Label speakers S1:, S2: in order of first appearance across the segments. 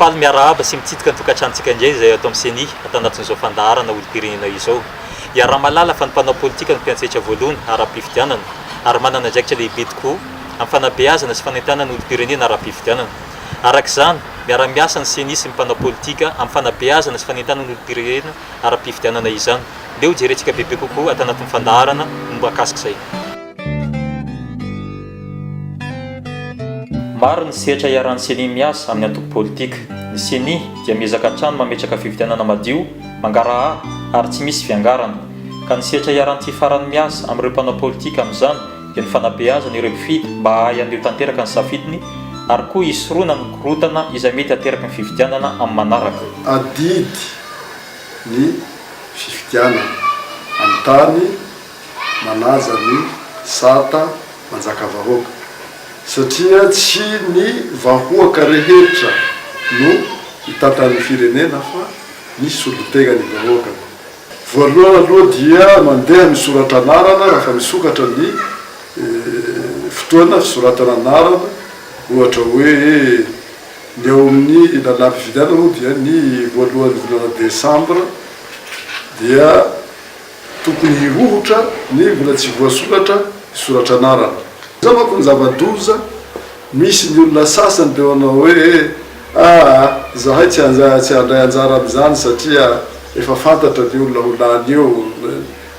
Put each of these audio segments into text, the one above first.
S1: Faly miarahaba sy mitsidika ny tokantranontsika indray izay ato amin'ny Ceni ato anatin'izao fandaharana olom-pirenena izao. Iaraha-mahalala fa ny mpanao politika no mpiantsetra voalohany ara-pifidianana ary manana andraikitra lehibe tokoa amin'ny fanabeazana sy fanentanana ny olom-pirenena ara-pifidianana. Araka izany, miara-miasa ny Ceni sy ny mpanao politika amin'ny fanabeazana sy fanentanana ny olom-pirenena ara-pifidianana izany. Leo jerentsika bebe kokoa ato anatin'ny fandaharana mikasika izay. Maro ny sehatra iharan'ny Ceni miasa amin'ny antoko politika. Ny Ceni dia miezaka hatrany mametraka fifidianana madio, mangaraha ary tsy misy fiangarana. Ka ny sehatra iharan'ity farany miasa amin'ireo mpanao politika amin'izany dia ny fanabeazana ireo mpifidy mba hahay handeho tanteraka ny safidiny ary koa hisoroana ny korontana izay mety hateraky ny fifidianana amin'ny manaraka. Adidy
S2: ny fifidianana amin'ny tany. manaja ny sata manjakavahoaka satria tsy ny vahoaka rehetra no hitantan'ny firenena fa ny solontenan'ny vahoaka. Voalohany aloha dia mandeha ny soratra anarana raha fa misokatra ny fotoana fisoratana anarana ohatra hoe ny ao amin'ny lalam-pifidianana moa dia ny voalohan'ny volana desambra dia Tokony hirohotra nefy mbola tsy voasoratra ny soratra anarana. Izao manko ny zava-doza, misy ny olona sasany te hanao hoe aa izahay tsy tsy handray anjara amin'izany satria efa fantatra ny olona ho lany eo,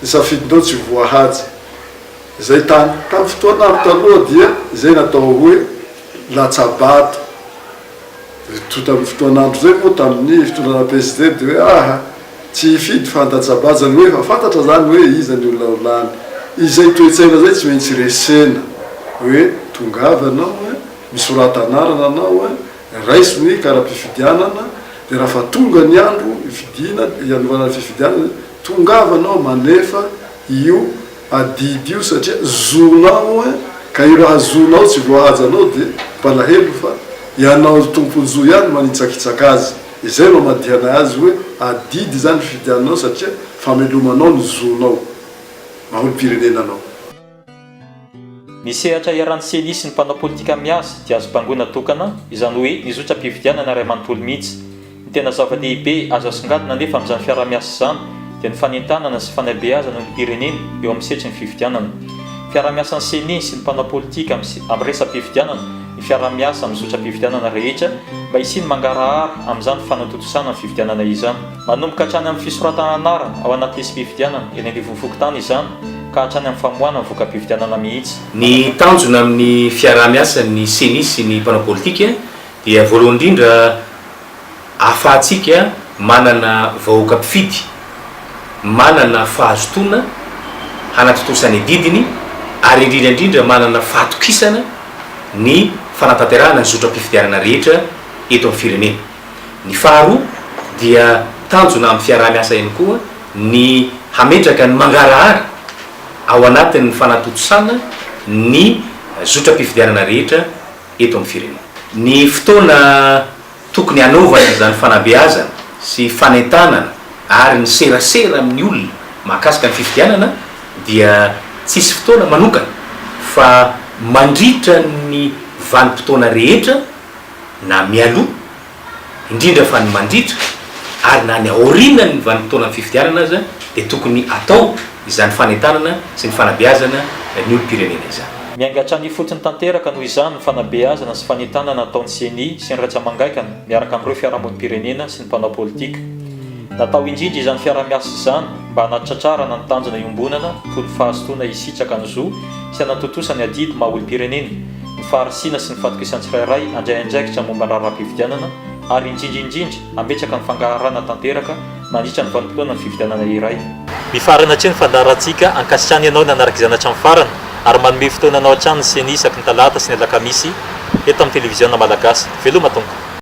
S2: ny safidinao tsy voahaja. Izay tany tamin'ny fotoana andro taloha dia izay natao hoe latsa-bato. Ry tonta amin'ny fotoan'andro izay moa tamin'ny fitondrana Presidente hoe aha, tsy hifidy fa handatsa-baja ny hoe efa fantatra izany hoe iza ny olona ho lany. Izay toe-tsaina izay tsy maintsy resena hoe tongava ianao a, misorata anarana anao a, raiso ny kara-pifidianana dia raha fa tonga ny andro hifidiana, hianovana ny fifidianana, tongava ianao manefa io adidy io satria zonao an ka io raha zonao tsy voahaja anao dia mpalahelo fa ianao ry tompon-jo ihany manitsakitsaka azy izay no amadihana azy hoe adidy izany fifidiananao satria famelomanao ny zonao maha olom-pirenena anao.
S1: Ny sehatra iharan'ny ceni sy ny mpanao politika miasa dia azo bangoina tokana, izany hoe ny zotram-pifidianana iray manontolo mihitsy. Ny tena zava-dehibe azo asongadina anefa amin'izany fiaraha-miasa izany dia ny fanentanana sy fanabeazana ny olom-pirenena eo amin'ny sehatry ny fifidianana. Fiaraha-miasan'ny ceni sy ny mpanao politika amin'ny resa-pifidianana ny fiaraha-miasa amin'ny zotram-pifidianana rehetra mba hisian'ny mangarahara amin'izany fanatontosana ny fifidianana izany. Manomboka hatrany amin'ny fisoratana anarana ao anaty lisi-pifidianana eny anivon'ny fokontany izany ka hatrany amin'ny famoahana ny voka-pifidianana mihitsy. Ny tanjona
S3: amin'ny fiaraha-miasan'ny Ceni sy ny mpanao politika dia voalohany indrindra ahafahantsika manana vahoaka mpifidy manana fahazotoana hanatontosa ny adidiny ary indrindra indrindra manana fahatokisana ny fanatanterahana ny zotram-pifidianana rehetra eto amin'ny firenena. Ny faharoa dia tanjona amin'ny fiaraha-miasa ihany koa ny hametraka ny mangarahara ao anatin'ny fanatontosana ny zotram-pifidianana rehetra eto amin'ny firenena. Ny fotoana tokony hanaovana izany fanabeazana sy fanentanana ary ny serasera amin'ny olona mahakasika ny fifidianana dia tsisy fotoana manokana fa mandritra ny vanim-potoana rehetra, na mialoha indrindra fa ny mandritra ary na ny aorianan'ny vanim-potoanan'ny fifidianana aza dia tokony atao izany fanentanana sy ny fanabeazana ny olom-pirenena izany. Miainga hatrany ifotony
S1: tanteraka noho izany ny fanabeazana sy fanentanana ataon'ny Ceni sy ny Raisamangainkana miaraka amin'ireo fiarahamonim-pirenena sy ny mpanao politika. Natao indrindra izany fiaraha-miasa izany mba hanatratrarana ny tanjona iombonana toy ny fahazotoana hisitraka ny zo sy hanatontosa ny adidy maha olom-pirenena, ny faharisihana sy ny fahatokisan'ny tsirairay handray andraikitra momba ny raharaham-pifidianana ary indrindra indrindra hambetsaka ny fangaharana tanteraka mandritra ny vanim-potoanan'ny fifidianana iray. Mifarana hatreo ny fandaharantsika, ankasitrahana ianao nanaraka izany hatramin'ny farany ary manome fotoana anao hatrany ny ceni isaky ny talata sy ny alakamisy eto amin'ny televiziona malagasy. Veloma Tompo.